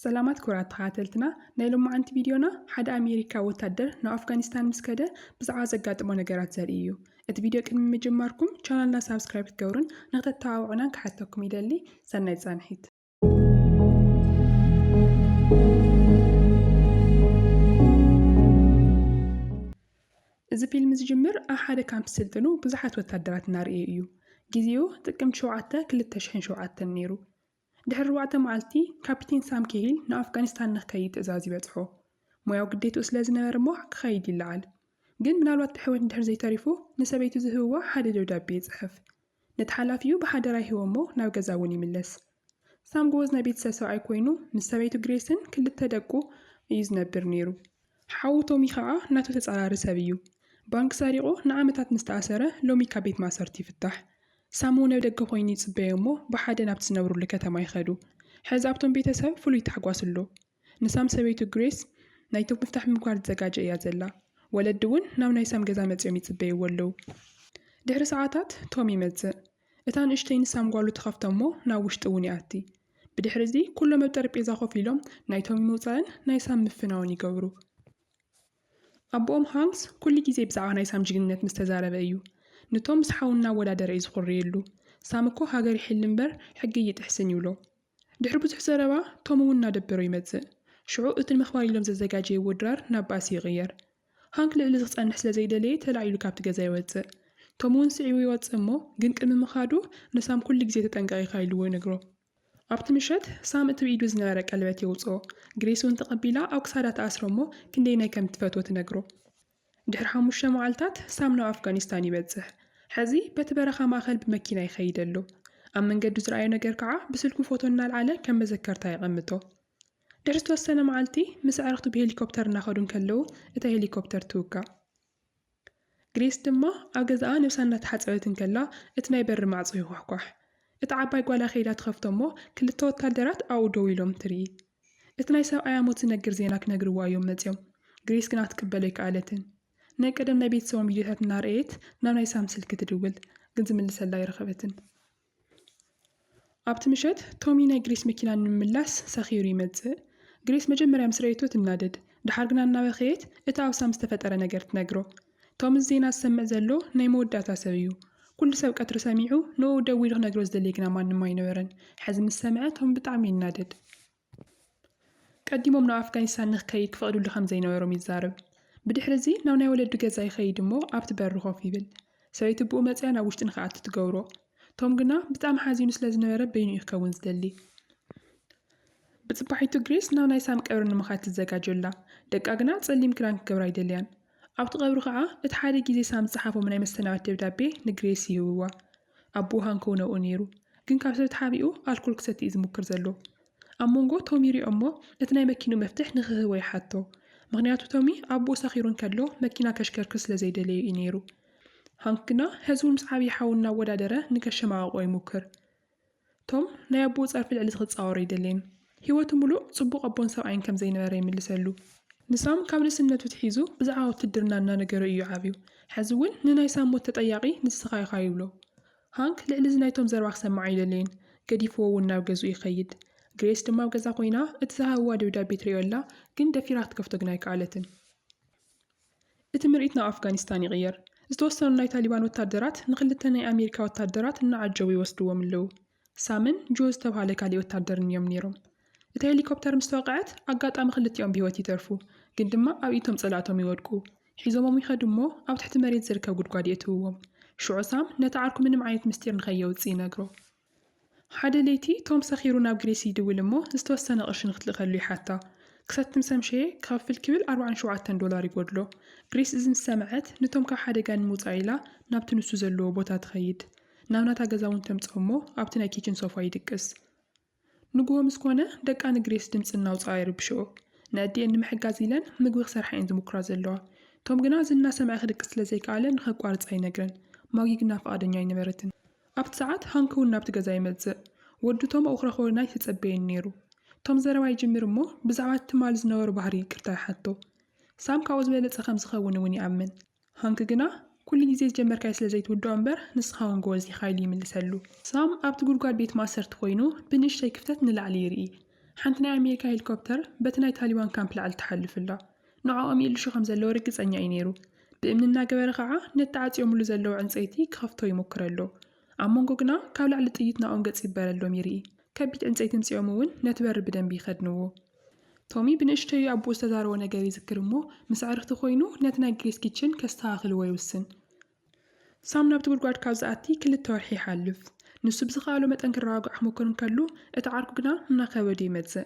ሰላማት ክቡራት ተኸታተልትና ናይ ሎማዓንቲ ቪድዮና ሓደ ኣሜሪካ ወታደር ናብ ኣፍጋኒስታን ምስ ከደ ብዛዕባ ዘጋጥሞ ነገራት ዘርኢ እዩ እቲ ቪድዮ ቅድሚ ምጅማርኩም ቻናልና ሳብስክራይብ ክትገብሩን ንክተተባብዑናን ክሓተኩም ይደሊ ሰናይ ፃንሒት እዚ ፊልም ዝጅምር ኣብ ሓደ ካምፕ ስልጥኑ ብዙሓት ወታደራት እናርእየ እዩ። ጊዜኡ ጥቅምቲ 7 2007 ነይሩ። ድሕሪ ኣርባዕተ መዓልቲ፣ ካፒቴን ሳም ኬሂል ንኣፍጋኒስታን ንክከይድ ትእዛዝ ይበጽሖ። ሞያዊ ግዴትኡ ስለ ዝነበረ እሞ ክኸይድ ይለዓል። ግን ምናልባት ብሕውየት እንድሕር ዘይተሪፉ፣ ንሰበይቱ ዝህብዋ ሓደ ደብዳቤ ይጽሕፍ። ነቲ ሓላፊኡ ብሓደራ ይህቦ እሞ ናብ ገዛ እውን ይምለስ። ሳም ጎበዝ ናይ ቤተሰብ ሰብኣይ ኮይኑ፣ ምስ ሰበይቱ ግሬስን ክልተ ደቁ እዩ ዝነብር ነይሩ። ሓው ቶሚ ከኣ ናቱ ተጻራሪ ሰብ እዩ ባንክ ሰሪቁ ንዓመታት ምስ ተኣሰረ ሎሚ ካብ ቤት ማእሰርቲ ይፍታሕ ሳሙ ን ኣብደገ ኮይኑ ይጽበዮ እሞ ብሓደ ናብቲ ዝነብሩሉ ከተማ ይከዱ ሐዚ ኣብቶም ቤተሰብ ፍሉይ ታሕጓስ ኣሎ ንሳም ሰበይቱ ግሬስ ናይቶም ምፍታሕ ምምካር ትዘጋጀ እያ ዘላ ወለዲ ውን ናብ ናይ ሳም ገዛ መጽዮም ይጽበይዎ ኣለዉ ድሕሪ ሰዓታት ቶም ይመጽእ እታ ንእሽተይ ንሳም ጓሉ ትኸፍቶ እሞ ናብ ውሽጢ እውን ይኣቲ። ብድሕሪ እዚ ኩሎም ኣብ ጠረጴዛ ኮፍ ኢሎም ናይ ቶሚ ምውጻእን ናይ ሳም ምፍናውን ይገብሩ። ኣቦኦም ሃንክስ ኩሉ ግዜ ብዛዕባ ናይ ሳም ጅግንነት ምስ ተዛረበ እዩ ንቶም ምስ ሓዉ እናወዳደረ እዩ ዝኹርየሉ። ሳም እኮ ሃገር ይሕሊ እምበር ሕጊ እይጥሕስን ይብሎ። ድሕሪ ብዙሕ ዘረባ ቶም እውን እናደበሮ ይመጽእ። ሽዑ እቲ ንምኽባር ኢሎም ዘዘጋጀይዎ ድራር ናብ ባእሲ ይቕየር። ሃንክ ልዕሊ እዚ ክጸንሕ ስለ ዘይደለየ ተላዒሉ ካብቲ ገዛ ይወጽእ። ቶም እውን ስዒቡ ይወጽእ እሞ ግን ቅድሚ ምኻዱ ንሳም ኩሉ ግዜ ተጠንቀቕ ኢኻ ኢልዎ ይነግሮ። ኣብቲ ምሸት ሳም እቲ ብኢዱ ዝነበረ ቀለበት የውጽኦ። ግሬስ እውን ተቐቢላ ኣብ ክሳዳ ትኣስሮ እሞ ክንደይናይ ከም እትፈትዎ ትነግሮ። ድሕሪ ሓሙሽተ መዓልታት ሳም ናብ ኣፍጋኒስታን ይበጽሕ። ሕዚ በቲ በረኻ ማእከል ብመኪና ይኸይድ ኣሎ። ኣብ መንገዱ ዝረኣዮ ነገር ከኣ ብስልኩ ፎቶ እናልዓለ ከም መዘከርታ የቐምጦ። ድሕሪ ዝተወሰነ መዓልቲ ምስ ኣዕርኽቱ ብሄሊኮፕተር እናኸዱ እንከለዉ እታ ሄሊኮፕተር ትውጋእ። ግሬስ ድማ ኣብ ገዛኣ ነብሳ እናተሓጸበት እንከላ እቲ ናይ በሪ ማዕጾ ይኳሕኳሕ። እታ ዓባይ ጓላ ከይዳ ትኸፍቶ እሞ ክልተ ወታደራት ኣብኡ ደው ኢሎም ትርኢ። እቲ ናይ ሰብኣያ ሞት ዝነግር ዜና ክነግርዋ እዮም መጺኦም። ግሬስ ግና ክትቅበሎ ኣይከኣለትን። ናይ ቀደም ናይ ቤተሰቦም ቪድዮታት እናርኣየት ናብ ናይ ሳም ስልኪ ትድውል፣ ግን ዝምልሰላ ኣይረኸበትን። ኣብቲ ምሸት ቶሚ ናይ ግሬስ መኪና ንምምላስ ሰኺሩ ይመጽእ። ግሬስ መጀመርያ ምስ ረኣየቶ ትናደድ፣ ደሓር ግና እናበኸየት እቲ ኣብ ሳም ዝተፈጠረ ነገር ትነግሮ። ቶም እዚ ዜና ዝሰምዕ ዘሎ ናይ መወዳእታ ሰብ እዩ። ኩሉ ሰብ ቀትሪ ሰሚዑ ንኡኡ ደው ኢሉ ክነግሮ ዝደልይ ግና ማንም ኣይነበረን። ሐዚ ምስ ሰምዐ ቶም ብጣዕሚ ይናደድ። ቀዲሞም ናብ ኣፍጋኒስታን ንክከይድ ክፈቅድሉ ከምዘይነበሮም ይዛረብ። ብድሕሪ እዚ ናብ ናይ ወለዱ ገዛ ይከይድ እሞ ኣብቲ በሪ ኮፍ ይብል። ሰበይቲ ብኡ መፂኣ ናብ ውሽጢ ንክኣቱ ትገብሮ። ቶም ግና ብጣዕሚ ሓዚኑ ስለዝነበረ በይኑ እዩ ክከውን ዝደሊ። ብፅባሒቱ ግሬስ ናብ ናይ ሳም ቀብሪ ንምካድ ትዘጋጆ ኣላ። ደቃ ግና ፀሊም ክዳን ክገብራ ኣይደልያን። ኣብቲ ቀብሪ ኸኣ እቲ ሓደ ግዜ ሳም ዝጸሓፎም ናይ መሰናበት ደብዳቤ ንግሬስ ይህብዋ። ኣቦኡ ሃንኮው ነብኡ ነይሩ፣ ግን ካብ ሰብ ተሓቢኡ ኣልኮል ክሰቲ እዩ ዝሙክር ዘሎ። ኣብ መንጎ ቶሚ ይሪኦ'ሞ እቲ ናይ መኪንኡ መፍትሕ ንኽህቦ ይሓቶ። ምኽንያቱ ቶሚ ኣቦኡ ሰኺሩ እንከሎ መኪና ከሽከርክር ስለ ዘይደለዮ እዩ ነይሩ። ሃንክ ግና ሕዚ እውን ምስ ዓብዪ ሓዉ እናወዳደረ ንከሸማቕቖ ይሙክር። ቶም ናይ ኣቦኡ ጸርፊ ልዕሊ እቲ ክጻወሮ ኣይደለየን። ህይወቱ ምሉእ ጽቡቕ ኣቦን ሰብኣይን ከም ዘይነበረ ይምልሰሉ። ንሳም ካብ ንእስነቱ ትሒዙ ብዛዕባ ውትድርና እናነገሮ እዩ ዓብዩ። ሕዚ እውን ንናይ ሳም ሞት ተጠያቒ ንስኻ ኢኻ ይብሎ። ሃንክ ልዕሊ እዚ ናይ ቶም ዘረባ ክሰምዕ ኣይደለየን። ገዲፍዎ እውን ናብ ገዝኡ ይኸይድ። ግሬስ ድማ ኣብ ገዛ ኮይና እቲ ዝሃብዋ ደብዳቤ ትርእዮ ኣላ፣ ግን ደፊራ ክትከፍቶ ግን ኣይከኣለትን። እቲ ምርኢት ናብ ኣፍጋኒስታን ይቕየር። ዝተወሰኑ ናይ ታሊባን ወታደራት ንክልተ ናይ ኣሜሪካ ወታደራት እናዓጀቡ ይወስድዎም ኣለዉ። ሳምን ጆ ዝተብሃለ ካሊእ ወታደርን እዮም ነይሮም። እታ ሄሊኮፕተር ምስ ተወቕዐት ኣጋጣሚ ክልቲኦም ብህይወት ይተርፉ፣ ግን ድማ ኣብ ኢድቶም ጸላእቶም ይወድቁ። ሒዞሞም ይኸዱ እሞ ኣብ ትሕቲ መሬት ዝርከብ ጉድጓድ የእትውዎም። ሽዑ ሳም ነቲ ዓርኩ ምንም ዓይነት ምስጢር ንከየውጽእ ይነግሮ። ሓደ ለይቲ ቶም ሰኺሩ ናብ ግሬስ ይድውል እሞ ዝተወሰነ ቅርሺ ንክትልእከሉ ይሓታ። ክሰቲ ምስ ኣምሸየ ክኸፍል ክብል ኣርብዓን ሸውዓተን ዶላር ይጎድሎ። ግሬስ እዚ ምስ ሰምዐት ንቶም ካብ ሓደጋ ንምውጻእ ኢላ ናብቲ ንሱ ዘለዎ ቦታ ትኸይድ። ናብ ናታ ገዛ እውን ተምጽኦም እሞ ኣብቲ ናይ ኪችን ሶፋ ይድቅስ። ንጉሆ ምስ ኮነ ደቃ ንግሬስ ድምጺ እናውጽኣ ይርብሽኦ። ንኣዲኤን ንምሕጋዝ ኢለን ምግቢ ክሰርሓ እየን ዝሙኩራ ዘለዋ። ቶም ግና እዚ እናሰምዐ ክድቅስ ስለ ዘይከኣለ ንከቋርጻ ይነግረን። ማጊ ግና ፍቓደኛ ኣይነበረትን። ኣብቲ ሰዓት ሃንክ እውን ናብቲ ገዛ ይመጽእ። ወዱ ቶም ኣውኽራ ክወርና ኣይተጸበየን ነይሩ። ቶም ዘረባ ይጅምር እሞ ብዛዕባ እቲ ትማሊ ዝነበሮ ባህሪ ይቅርታ ይሓቶ። ሳም ካብኡ ዝበለጸ ከም ዝኸውን እውን ይኣምን። ሃንክ ግና ኩሉ ግዜ ዝጀመርካዮ ስለ ዘይትውድኦ እምበር ንስኻ እውን ጎበዝ ኢኻ ኢሉ ይምልሰሉ። ሳም ኣብቲ ጉድጓድ ቤት ማእሰርቲ ኮይኑ ብንእሽተይ ክፍተት ንላዕሊ ይርኢ። ሓንቲ ናይ ኣሜሪካ ሄሊኮፕተር በቲ ናይ ታሊባን ካምፕ ላዕሊ ትሓልፍ ኣላ። ንዖኦም ይእልሹ ከም ዘለዉ ርግጸኛ እዩ ነይሩ። ብእምኒ እናገበረ ኸኣ ነቲ ተዓጽዮምሉ ዘለዉ ዕንጸይቲ ክኸፍቶ ይሙክር ኣሎ። ኣብ መንጎ ግና ካብ ላዕሊ ጥይት ናብኦም ገጽ ይበረሎም ይርኢ። ከቢድ ዕንጸይቲ ምጺኦም እውን ነቲ በሪ ብደንቢ ይኸድንዎ። ቶሚ ብንእሽተዩ ኣቦኡ ዝተዛረቦ ነገር ይዝክር እሞ ምስ ኣዕርኽቲ ኮይኑ ነቲ ናይ ግሬስ ኪችን ከስተኻኽልዎ ይውስን። ሳም ናብቲ ጉድጓድ ካብ ዝኣቲ ክልተ ወርሒ ይሓልፍ። ንሱ ብዝኸኣሎ መጠን ክረጋግዖ ክሙኩር እንከሉ፣ እቲ ዓርኩ ግና እናኸበዱ ይመጽእ።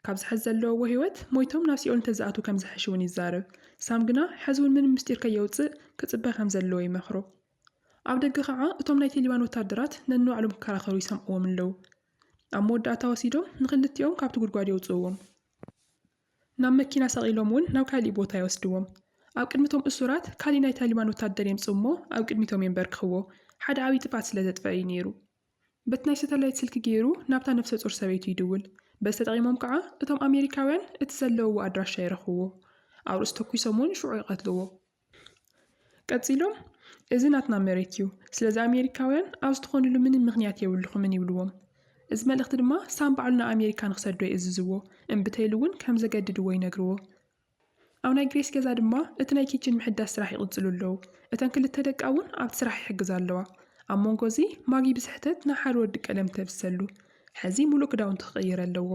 ካብዚ ሕዚ ዘለውዎ ህይወት ሞይቶም ናብ ሲኦል እንተዝኣትዉ ከም ዝሕሽ'ውን ይዛረብ። ሳም ግና ሕዚ'ውን ምንም ምስጢር ከየውጽእ ክጽበ ከም ዘለዎ ይመኽሮ። ኣብ ደገ ኸኣ እቶም ናይ ቴሊባን ወተሃደራት ነንባዕሎም ክከራኸሩ ይሰምዕዎም ኣለዉ። ኣብ መወዳእታ ወሲዶም ንኽልቲኦም ካብቲ ጉድጓድ የውጽእዎም። ናብ መኪና ሰቒሎም እውን ናብ ካሊእ ቦታ ይወስድዎም። ኣብ ቅድሚ እቶም እሱራት ካሊእ ናይ ታሊባን ወታደር የምጽኡ እሞ ኣብ ቅድሚቶም የምበርክኽዎ። ሓደ ዓብዪ ጥፍኣት ስለ ዘጥፍኣ እዩ ነይሩ። በቲ ናይ ሰተላይት ስልኪ ገይሩ ናብታ ነፍሰ-ጾር ሰበይቱ ይድውል። በዚ ተጠቒሞም ከኣ እቶም ኣሜሪካውያን እቲ ዘለውዎ ኣድራሻ ይረኽብዎ። ኣብ ርእሱ ተኲሶም እውን ሽዑ ይቐትልዎ። ቀጺሎም እዚ ናትና መሬት እዩ፣ ስለዚ ኣሜሪካውያን ኣብዚ ትኾንሉ ምንም ምኽንያት የብልኹምን ይብልዎም። እዚ መልእኽቲ ድማ ሳም ባዕሉ ንኣሜሪካ ንኽሰዶ ይእዝዝዎ፣ እምብተይሉ እውን ከም ዘገድድዎ ይነግርዎ። ኣብ ናይ ግሬስ ገዛ ድማ እቲ ናይ ኪችን ምሕዳስ ስራሕ ይቕጽሉ ኣለዉ፣ እተን ክልተ ደቃ እውን ኣብቲ ስራሕ ይሕግዛ ኣለዋ። ኣብ መንጎ እዚ ማጊ ብስሕተት ናይ ሓደ ወዲ ቀለም ተብሰሉ፣ ሕዚ ምሉእ ክዳውንቱ ክቕይር ኣለዎ።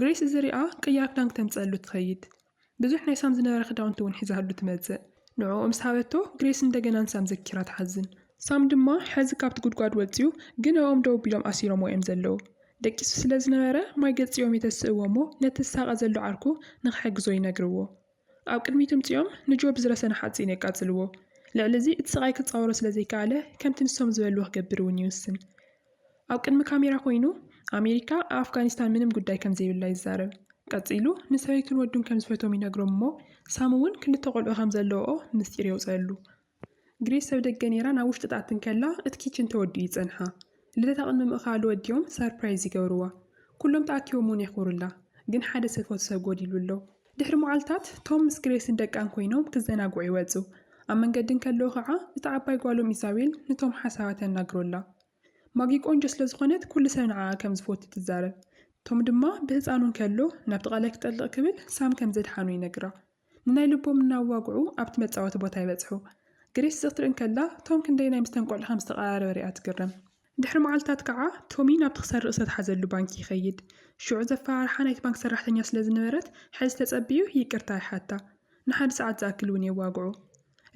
ግሬስ እዚ ሪኣ ቅያር ክዳን ክተምጽኣሉ ትኸይድ። ብዙሕ ናይ ሳም ዝነበረ ክዳውንቲ እውን ሒዛሉ ትመጽእ። ንዕኡ ምስ ሃበቶ፣ ግሬስ እንደገና ንሳም ዘኪራ ትሓዝን። ሳም ድማ ሕዚ ካብቲ ጉድጓድ ወጺኡ፣ ግን ኣብኦም ደው ኣቢሎም ኣሲሮምዎ እዮም ዘለዉ። ደቂሱ ስለ ዝነበረ፣ ማይ ገጽ'ዮም የተስእዎ እሞ ነቲ ዝሳቐ ዘሎ ዓርኩ ንኽሕግዞ ይነግርዎ። ኣብ ቅድሚት እምጺኦም ንጆ ብዝረሰነ ሓጺን የቃጽልዎ። ልዕሊ እዚ እቲ ስቓይ ክጻወሮ ስለ ዘይከኣለ፣ ከምቲ ንሶም ዝበልዎ ክገብር እውን ይውስን። ኣብ ቅድሚ ካሜራ ኮይኑ ኣሜሪካ ኣብ ኣፍጋኒስታን ምንም ጉዳይ ከም ዘይብላ ይዛረብ። ቀጺሉ ንሰበይቱን ወዱን ከም ዝፈትዎም ይነግሮም እሞ ሳም እውን ክልተ ቆልዑ ከም ዘለውኦ ምስጢር የውጽኣሉ። ግሬስ ሰብ ደገ ነይራ ናብ ውሽጢ ትኣቲ እንከላ እቲ ኪችን ተወዲኡ ይጸንሓ። ልደታ ቅድሚ ምእካሉ ወዲኦም ሰርፕራይዝ ይገብርዋ። ኩሎም ተኣኪቦም እውን የኽብሩላ። ግን ሓደ ዝፈትዎ ሰብ ጎዲሉ ኣሎ። ድሕሪ መዓልታት፣ ቶም ምስ ግሬስን ደቃን ኰይኖም ክዘናግዑ ይወጹ። ኣብ መንገዲ እንከለዉ ኸኣ እታ ዓባይ ጓሎም ኢዛቤል ንቶም ሓሳባ ተናግሮ ኣላ። ማጊ ቈንጆ ስለ ዝዀነት ኵሉ ሰብ ንዓኣ ከም ዝፈቱ ትዛረብ። ቶም ድማ ብህጻኑ እንከሎ ናብቲ ቀላይ ክጠልቕ ክብል ሳም ከም ዘድሓኖ ይነግራ። ንናይ ልቦም እናዋግዑ ኣብቲ መጻወቲ ቦታ ይበጽሑ። ግሬስ እዚ ክትርኢ እንከላ ቶም ክንደየናይ ምስ'ተን ቈልዑ ከም ዝተቐራረበ ርእያ ትግረም። ድሕሪ መዓልታት ከኣ ቶሚ ናብቲ ክሰርቕ ዝተትሓዘሉ ባንኪ ይኸይድ። ሽዑ ዘፈራርሓ ናይቲ ባንክ ሰራሕተኛ ስለ ዝነበረት ሕዚ ተጸብዩ ይቅርታ ይሓታ። ንሓደ ሰዓት ዝኣክል እውን የዋግዖ።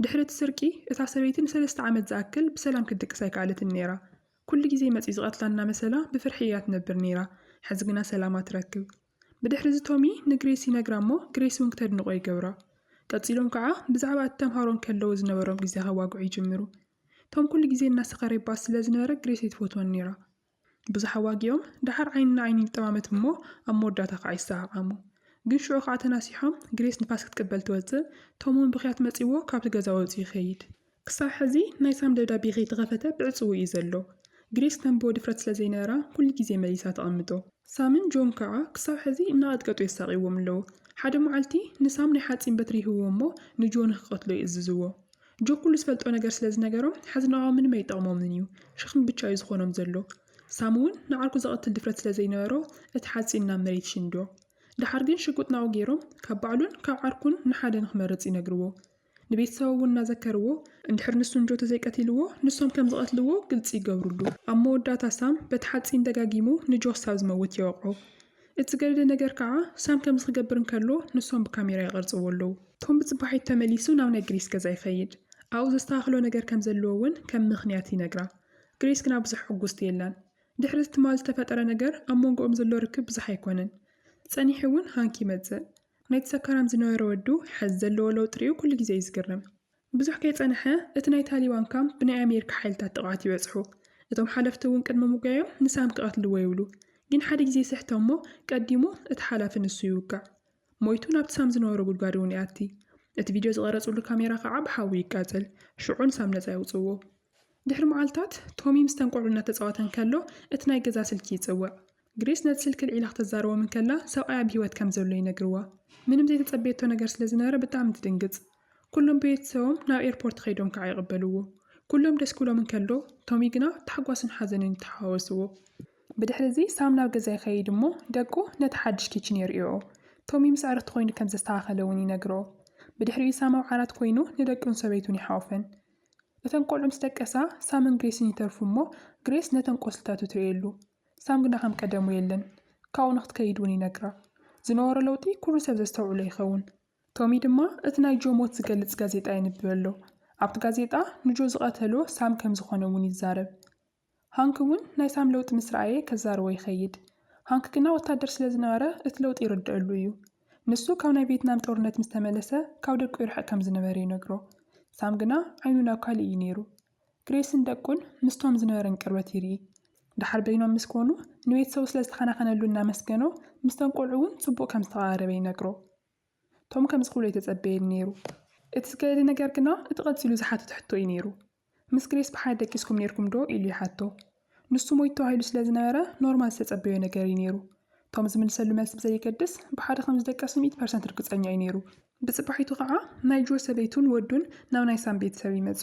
ድሕሪ እቲ ስርቂ እታ ሰበይቲ ንሰለስተ ዓመት ዝኣክል ብሰላም ክትድቅስ ኣይከኣለትን ነይራ። ኩሉ ግዜ መጽዩ ዝቐትላ እናመሰላ ብፍርሒ እያ ትነብር ነይራ። ሕዚ ግና ሰላማ ትረክብ። ብድሕሪዚ ቶሚ ንግሬስ ይነግራ እሞ ግሬስ እውን ክተድንቖ ይገብራ። ቀጺሎም ከኣ ብዛዕባ እቲ ተምሃሮ እንከለዉ ዝነበሮም ግዜ ከዋግዑ ይጅምሩ። ቶም ኩሉ ግዜ እናሰኸረ ይበኣስ ስለ ዝነበረ ግሬስ ኣይትፈትዎን ነይራ። ብዙሕ ኣዋጊኦም ደሓር ዓይኒ ንዓይኒ ይጠማመት እሞ ኣብ መወዳእታ ከኣ ይሰዓዓሙ። ግን ሽዑ ከኣ ተናሲሖም ግሬስ ንፋስ ክትቅበል ትወጽእ ቶም እውን ብኽያት መጺእዎ ካብቲ ገዛ ወጺኡ ይኸይድ። ክሳብ ሕዚ ናይ ሳም ደብዳቤ ከይተኸፈተ ብዕጽዉ እዩ ዘሎ። ግሬስ ክተንብቦ ድፍረት ስለ ዘይነበራ ኩሉ ግዜ መሊሳ ተቐምጦ። ሳምን ጆን ከኣ ክሳብ ሕዚ እናቐጥቀጡ የሳቕይዎም ኣለዉ። ሓደ መዓልቲ ንሳም ናይ ሓጺን በትሪ ይህብዎ እሞ ንጆን ንክቐትሎ ይእዝዝዎ። ጆክ ኩሉ ዝፈልጦ ነገር ስለ ዝነገሮም ሐዚ ንዖኦም ምንም ኣይጠቕሞምን እዩ ሸኽሚ ብቻ እዩ ዝኾኖም ዘሎ ሳሚ ውን ንዓርኩ ዘቐትል ድፍረት ስለ ዘይነበሮ እቲ ሓፂን ናብ መሬት ይሽንዶ ደሓር ግን ሽጉጥ ናብኡ ገይሮም ካብ ባዕሉን ካብ ዓርኩን ንሓደ ንኽመርፅ ይነግርዎ ንቤተሰቦ ውን እናዘከርዎ እንድሕር ንሱ ንጆ ተዘይቀቲልዎ ንሶም ከም ዝቐትልዎ ግልፂ ይገብርሉ ኣብ መወዳእታ ሳም በቲ ሓፂን ደጋጊሙ ንጆ ክሳብ ዝመውት የወቕዖ እቲ ገድሊ ነገር ከኣ ሳም ከምዚ ክገብር እንከሎ ንሶም ብካሜራ ይቐርጽዎ ኣለዉ። ቶም ብጽባሒት ተመሊሱ ናብ ናይ ግሪስ ገዛ ይኸይድ። ኣብኡ ዘስተኻኽሎ ነገር ከም ዘለዎ እውን ከም ምኽንያት ይነግራ። ግሪስ ግና ብዙሕ ዕጉስቲ የላን። ድሕሪ እቲ ትማል ዝተፈጠረ ነገር ኣብ መንጎኦም ዘሎ ርክብ ብዙሕ ኣይኮነን። ጸኒሑ እውን ሃንክ ይመጽእ። ናይቲ ሰካራም ዝነበረ ወዱ ሐዚ ዘለዎ ለውጢ ሪኡ ኩሉ ግዜ እዩ ዝግረም። ብዙሕ ከይጸንሐ እቲ ናይ ታሊባን ካምፕ ብናይ ኣሜሪካ ሓይልታት ጥቕዓት ይበጽሑ። እቶም ሓለፍቲ እውን ቅድሚ ምጉያዮም ንሳም ክቐትልዎ ይብሉ። ግን ሓደ ግዜ ይስሕቶም እሞ ቀዲሙ እቲ ሓላፊ ንሱ ይውጋእ። ሞይቱ ናብቲ ሳም ዝነበሮ ጉድጓድ እውን ይኣቲ። እቲ ቪድዮ ዝቐረጽሉ ካሜራ ከኣ ብሓዊ ይቃጸል። ሽዑ ንሳም ነጻ የውጽእዎ። ድሕሪ መዓልታት ቶሚ ምስተን ቆልዑ እናተጻወተ እንከሎ እቲ ናይ ገዛ ስልኪ ይጽውዕ። ግሬስ ነቲ ስልኪ ኣልዒላ ኽተዛርቦም እንከላ፣ ሰብኣያ ኣብ ህይወት ከም ዘሎ ይነግርዋ። ምንም ዘይተጸበየቶ ነገር ስለ ዝነበረ ብጣዕሚ ትድንግጽ። ኵሎም ቤተሰቦም ናብ ኤርፖርት ኸይዶም ከዓ ይቕበልዎ። ኵሎም ደስ ክብሎም እንከሎ፣ ቶሚ ግና ታሕጓስን ሓዘንን ይተሓዋወስዎ። ብድሕሪ እዚ ሳም ናብ ገዛ ይኸይድ እሞ ደቁ ነቲ ሓድሽ ኪችን የርእዮኦ። ቶሚ ምስ ኣዕርኽቲ ኾይኑ ከም ዘስተኻኸለ እውን ይነግርኦ። ብድሕሪኡ ሳም ኣብ ዓራት ኮይኑ ንደቁን ሰበይቱን ይሓቑፈን። እተን ቈልዑ ምስ ደቀሳ፣ ሳምን ግሬስን ይተርፉ እሞ ግሬስ ነተን ቈስልታቱ ትርእየሉ። ሳም ግና ከም ቀደሙ የለን። ካብኡ ንኽትከይድ እውን ይነግራ። ዝነበሮ ለውጢ ኩሉ ሰብ ዘስተውዕሎ ይኸውን። ቶሚ ድማ እቲ ናይ ጆ ሞት ዝገልጽ ጋዜጣ የንብብ ኣሎ። ኣብቲ ጋዜጣ ንጆ ዝቐተሎ ሳም ከም ዝዀነ እውን ይዛረብ። ሃንክ እውን ናይ ሳም ለውጢ ምስ ረኣየ ከዛርቦ ይኸይድ። ሃንክ ግና ወታደር ስለ ዝነበረ እቲ ለውጢ ይርደኣሉ እዩ። ንሱ ካብ ናይ ቬትናም ጦርነት ምስ ተመለሰ ካብ ደቁ ይርሕቕ ከም ዝነበረ ይነግሮ። ሳም ግና ዓይኑ ናብ ካልእ እዩ ነይሩ። ግሬስን ደቁን ምስቶም ዝነበረን ቅርበት ይርኢ። ደሓር በይኖም ምስ ኮኑ፣ ንቤተሰቡ ስለ ዝተኸናኸነሉ እናመስገኖ፣ ምስቶም ቈልዑ እውን ጽቡቕ ከም ዝተቐራረበ ይነግሮ። ቶም ከምዚ ክብሎ ኣይተጸበየን ነይሩ። እቲ ዝገደደ ነገር ግና እቲ ቀጺሉ ዝሓተቶ ሕቶ እዩ ነይሩ። ምስ ግሬስ ብሓደ ደቂስኩም ኔርኩም ዶ? ኢሉ ይሓቶ። ንሱ ሞይቱ ተባሂሉ ስለ ዝነበረ ኖርማን ዝተጸበዮ ነገር እዩ ነይሩ። ቶም ዝምልሰሉ መልሲ ብዘየገድስ ብሓደ ከም ዝደቀሱ ሚእቲ ፐርሰንት ርግጸኛ እዩ ነይሩ። ብጽባሒቱ ኸኣ ናይ ጆ ሰበይቱን ወዱን ናብ ናይ ሳም ቤተሰብ ይመጹ።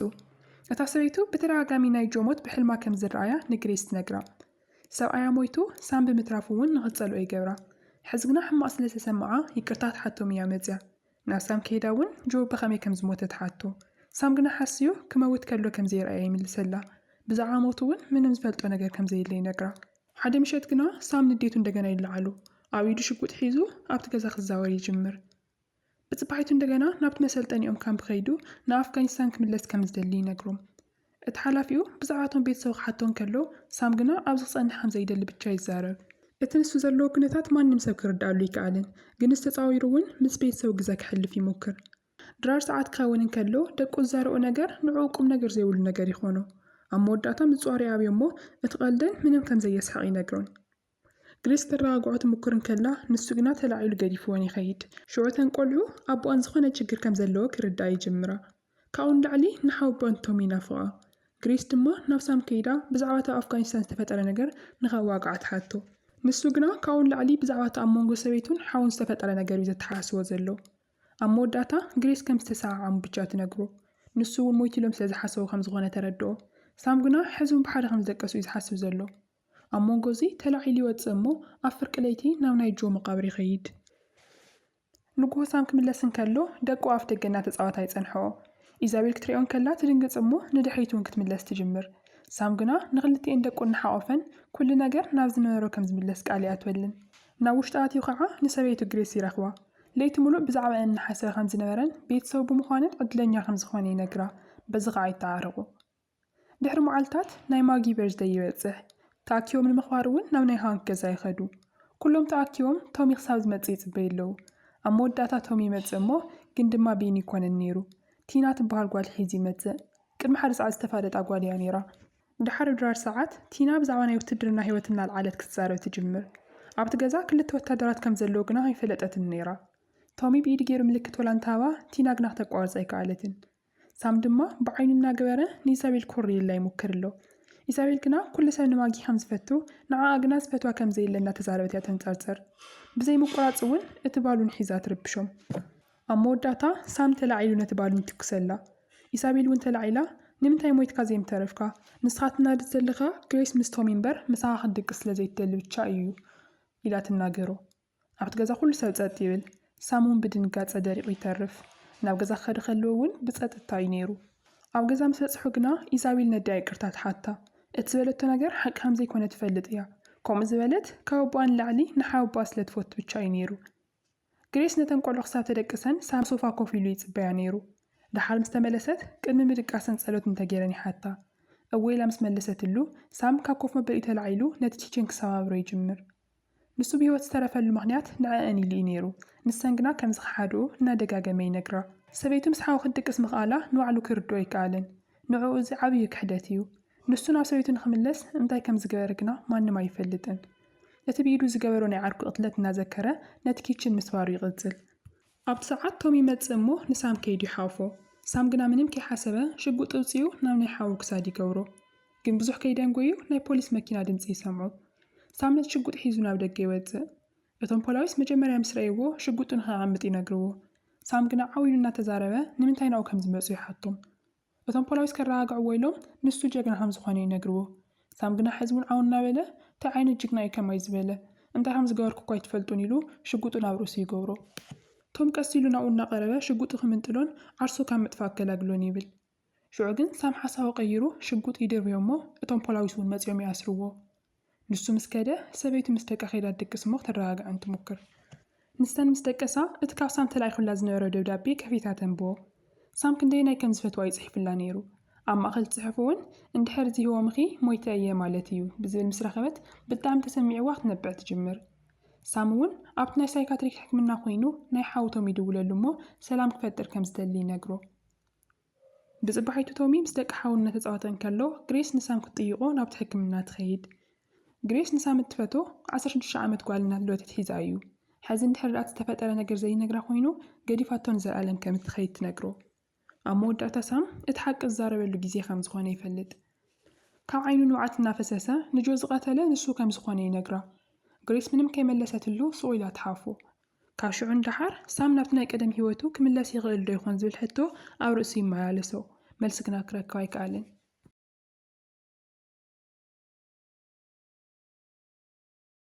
እታ ሰበይቱ ብተደጋጋሚ ናይ ጆ ሞት ብሕልማ ከም ዝረኣያ ንግሬስ ትነግራ። ሰብኣያ ሞይቱ ሳም ብምትራፉ'ውን ንኽትጸልኦ ይገብራ። ሕዚ ግና ሕማቕ ስለ ዝተሰምዓ ይቅርታ ክትሓቶም እያ መጺኣ። ናብ ሳም ከይዳ እውን ጆ ብኸመይ ከም ዝሞተ ትሓቶ። ሳም ግና ሓስዮ ክመውት ከሎ ከም ዘይርኣያ ይምልሰላ። ብዛዕባ ሞቱ እውን ምንም ዝፈልጦ ነገር ከም ዘየለ ይነግራ። ሓደ ምሸት ግና ሳም ንዴቱ እንደገና ይለዓሉ። ኣብ ኢዱ ሽጉጥ ሒዙ ኣብቲ ገዛ ክዛወር ይጅምር። ብጽባሒቱ እንደገና ናብቲ መሰልጠኒኦም ካምፕ ከይዱ ንኣፍጋኒስታን ክምለስ ከም ዝደሊ ይነግሮም። እቲ ሓላፊኡ ብዛዕባ'ቶም ቤተሰቡ ክሓቶ እንከሎ፣ ሳም ግና ኣብዚ ክጸንሕ ከም ዘይደሊ ብቻ ይዛረብ። እቲ ንሱ ዘለዎ ኵነታት ማንም ሰብ ክርድኣሉ ኣይከኣለን፣ ግንስ ተጻዊሩ እውን ምስ ቤተሰቡ ግዘ ከሕልፍ ይሙክር። ድራር ሰዓት ክኸውን እንከሎ፣ ደቁ ዝዛረብኦ ነገር ንዕኡ ቁምነገር ዘይብሉ ነገር ይኾኖ። ኣብ መወዳእታ ምጽዋር ይኣብዮ እሞ እቲ ቀልደን ምንም ከም ዘየስሕቕ ይነግሮን። ግሪስ ክረጋግዖ ትሙክር እንከላ፣ ንሱ ግና ተላዒሉ ገዲፍወን ይኸይድ። ሽዑ እተን ቈልዑ፣ ኣቦኣን ዝዀነ ችግር ከም ዘለዎ ክርድኣ ይጅምራ። ካብኡ ንላዕሊ ንሓው ኣቦኣን ቶም ይናፍቓ። ግሪስ ድማ ናብ ሳም ከይዳ ብዛዕባ እቲ ኣብ ኣፍጋኒስታን ዝተፈጠረ ነገር ንኸዋግዓ ትሓቶ። ንሱ ግና ካብኡ ንላዕሊ ብዛዕባ እቲ ኣብ መንጎ ሰበይቱን ሓዉን ዝተፈጠረ ነገር እዩ ዘተሓሳስቦ ዘሎ። ኣብ መወዳእታ ግሪስ ከም ዝተሰዓዓሙ ብቻ ትነግሮ። ንሱ እውን ሞይቱ ኢሎም ስለ ዝሓሰቡ ከም ዝዀነ ተረድኦ። ሳም ግና ሕዚ'ውን ብሓደ ከም ዝደቀሱ እዩ ዝሓስብ ዘሎ። ኣብ መንጎ እዚ ተላዒሉ ይወጽእ እሞ ኣብ ፍርቂ ለይቲ ናብ ናይ ጆ መቓብር ይኸይድ። ንግሆ ሳም ክምለስ እንከሎ ደቁ ኣፍ ደገ እናተጻወታ ይጸንሕኦ። ኢዛቤል ክትሪኦ እንከላ ትድንግጽ እሞ ንድሕሪት እውን ክትምለስ ትጅምር። ሳም ግና ንኽልቲኤን ደቁ እናሓቖፈን ኩሉ ነገር ናብ ዝነበሮ ከም ዝምለስ ቃል ይኣትወልን። ናብ ውሽጢ ኣትዩ ኸዓ ንሰበይቱ ግሬስ ይረኽባ። ለይቲ ምሉእ ብዛዕባኤን እናሓሰበ ከም ዝነበረን ቤተሰቡ ብምዃነን ዕድለኛ ከም ዝኾነ ይነግራ። በዚ ኸዓ ይተዓረቑ። ድሕሪ መዓልታት ናይ ማጊ በርዝደይ ይበጽሕ። ተኣኪቦም ንምኽባር እውን ናብ ናይ ሃንክ ገዛ ይኸዱ። ኩሎም ተኣኪቦም ቶሚ ክሳብ ዝመጽእ ይጽበዩ ኣለዉ። ኣብ መወዳእታ ቶሚ ይመጽእ እሞ ግን ድማ ቢኒ ኣይኮነን ነይሩ። ቲና ትበሃል ጓል ሒዙ ይመጽእ። ቅድሚ ሓደ ሰዓት ዝተፋለጣ ጓል እያ ነይራ። ድሓር ድራር ሰዓት ቲና ብዛዕባ ናይ ውትድርና ህይወት እናልዓለት ክትዛረብ ትጅምር። ኣብቲ ገዛ ክልተ ወታደራት ከም ዘለዉ ግና ኣይፈለጠትን ነይራ። ቶሚ ብኢዱ ገይሩ ምልክት ወላ እንተሃባ ቲና ግና ክተቋርጻ ኣይከኣለትን። ሳም ድማ ብዓይኑ እናገበረ ንኢሳቤል ኮርየላ ይሙክር ኣሎ። ኢሳቤል ግና ኩሉ ሰብ ንማጊ ከም ዝፈቱ ንዓኣ ግና ዝፈትዋ ከም ዘየለ እናተዛረበት እያ ተንጸርጽር። ብዘይ ምቁራጽ እውን እቲ ባሉን ሒዛ ትርብሾም። ኣብ መወዳእታ ሳም ተላዒሉ ነቲ ባሉን ይትኩሰላ። ኢሳቤል እውን ተላዒላ ንምንታይ ሞይትካ ዘይምተረፍካ? ንስኻ ትናድድ ዘለኻ ግሬስ ምስ ቶሚ እምበር ምሳኻ ክትድቅስ ስለ ዘይትደሊ ብቻ እዩ ኢላ ትናገሮ። ኣብቲ ገዛ ኩሉ ሰብ ጸጥ ይብል። ሳም እውን ብድንጋጸ ደሪቑ ይተርፍ። ናብ ገዛ ክኸዲ ከለዎ እውን ብጸጥታ እዩ ነይሩ። ኣብ ገዛ ምስ በጽሑ ግና ኢዛቤል ነዲኣ ይቅርታ ትሓታ። እቲ ዝበለቶ ነገር ሓቂ ከም ዘይኮነ ትፈልጥ እያ። ከምኡ ዝበለት ካብ ኣቦኣ ንላዕሊ ንሓወቦኣ ስለ ትፈቱ ብቻ እዩ ነይሩ። ግሬስ ነተን ቆልዑ ክሳብ ተደቅሰን ሳም ሶፋ ኮፍ ኢሉ ይጽበያ ነይሩ። ደሓር ምስ ተመለሰት ቅድሚ ምድቃሰን ጸሎት እንተ ገይረን ይሓታ። እወ ኢላ ምስ መለሰትሉ ሳም ካብ ኮፍ መበሊኡ ተላዒሉ ነቲ ቺቼን ክሰባብሮ ይጅምር። ንሱ ብህይወት ዝተረፈሉ ምኽንያት ንዐኣን ኢሉ እዩ ነይሩ፣ ንሰን ግና ከም ዝኸሓድኦ እናደጋገመ ይነግራ። ሰበይቱ ምስ ሓው ክትድቅስ ምኽኣላ ንባዕሉ ክርድኦ ኣይከኣለን። ንዕኡ እዚ ዓብዩ ክሕደት እዩ። ንሱ ናብ ሰበይቱ ንኽምለስ እንታይ ከም ዝገበረ ግና ማንም ኣይፈልጥን። እቲ ብኢዱ ዝገበሮ ናይ ዓርኩ ቅትለት እናዘከረ ነቲ ኪችን ምስባሩ ይቕጽል። ኣብቲ ሰዓት ቶም ይመጽእ እሞ ንሳም ከይዱ ይሓውፎ። ሳም ግና ምንም ከይሓሰበ ሽጉጥ እውጺኡ ናብ ናይ ሓዉ ክሳድ ይገብሮ። ግን ብዙሕ ከይደንጎዩ ናይ ፖሊስ መኪና ድምጺ ይሰምዑ። ሳም ነቲ ሽጉጥ ሒዙ ናብ ደገ ይወጽእ። እቶም ፖላዊስ መጀመርያ ምስ ረእይዎ ሽጉጡ ንኸየቐምጥ ይነግርዎ። ሳም ግና ዓው ኢሉ እናተዛረበ ንምንታይ ናብኡ ከም ዝመጹ ይሓቶም። እቶም ፖላዊስ ከራጋግዕዎ ኢሎም ንሱ ጀግና ከም ዝኾነ ይነግርዎ ሳም ግና ሕዚ ውን ዓው እናበለ ታይ ዓይነት ጅግና እዩ ከማይ ዝበለ እንታይ ከም ዝገበርኩ እኳ ኣይትፈልጡን ኢሉ ሽጉጡ ናብ ርእሱ ይገብሮ ቶም ቀስ ኢሉ ናብኡ እናቀረበ ሽጉጡ ክምንጥሎን ዓርሱ ካብ ምጥፋእ ክገላግሎን ይብል ሽዑ ግን ሳም ሓሳቡ ቀይሩ ሽጉጥ ይድርብዮ እሞ እቶም ፖላዊስ ውን መፂኦም ይኣስርዎ ንሱ ምስ ከደ፣ ሰበይቱ ምስ ደቃ ከይዳ ትድቅስ እሞ ክተረጋግዐን ትሙክር። ንሰን ምስ ደቀሳ፣ እቲ ካብ ሳም ተላኢኹላ ዝነበረ ደብዳቤ ከፊታ ተንብቦ። ሳም ክንደየናይ ከም ዝፈትዋ እዩ ጽሒፉላ ነይሩ። ኣብ ማእከል እቲ ጽሑፍ እውን፣ እንድሕር ዚህወምኺ፣ ሞይተ እየ ማለት እዩ ብዝብል ምስ ረኸበት ብጣዕሚ ተሰሚዕዋ ክትነብዕ ትጅምር። ሳም እውን ኣብቲ ናይ ሳይካትሪክ ሕክምና ኮይኑ ናይ ሓው ቶም ይድውለሉ እሞ ሰላም ክፈጥር ከም ዝደሊ ይነግሮ። ብጽባሒቱ ቶሚ ምስ ደቂ ሓው እናተጻወተ እንከሎ፣ ግሬስ ንሳም ክትጥይቖ ናብቲ ሕክምና ትኸይድ። ግሬስ ንሳም እትፈትዎ ዓሰርተ ሽዱሽተ ዓመት ጓል እናት ሎተት ሒዛ እዩ። ሕዚ እንድሕርድኣ እቲ ዝተፈጠረ ነገር ዘይነግራ ኮይኑ ገዲፋቶ ንዘልኣለም ከም እትኸይድ ትነግሮ። ኣብ መወዳእታ ሳም እቲ ሓቂ ዝዛረበሉ ግዜ ከም ዝኾነ ይፈልጥ። ካብ ዓይኑ ንብዓት እናፈሰሰ ንጆ ዝቐተለ ንሱ ከም ዝኾነ ይነግራ። ግሬስ ምንም ከይመለሰትሉ ሱቕ ኢላ ትሓፎ። ካብ ሽዑ ንደሓር ሳም ናብቲ ናይ ቀደም ህይወቱ ክምለስ ይኽእል ዶ ይኾን ዝብል ሕቶ ኣብ ርእሱ ይመላለሶ። መልሲ ግና ክረክብ ኣይከኣለን።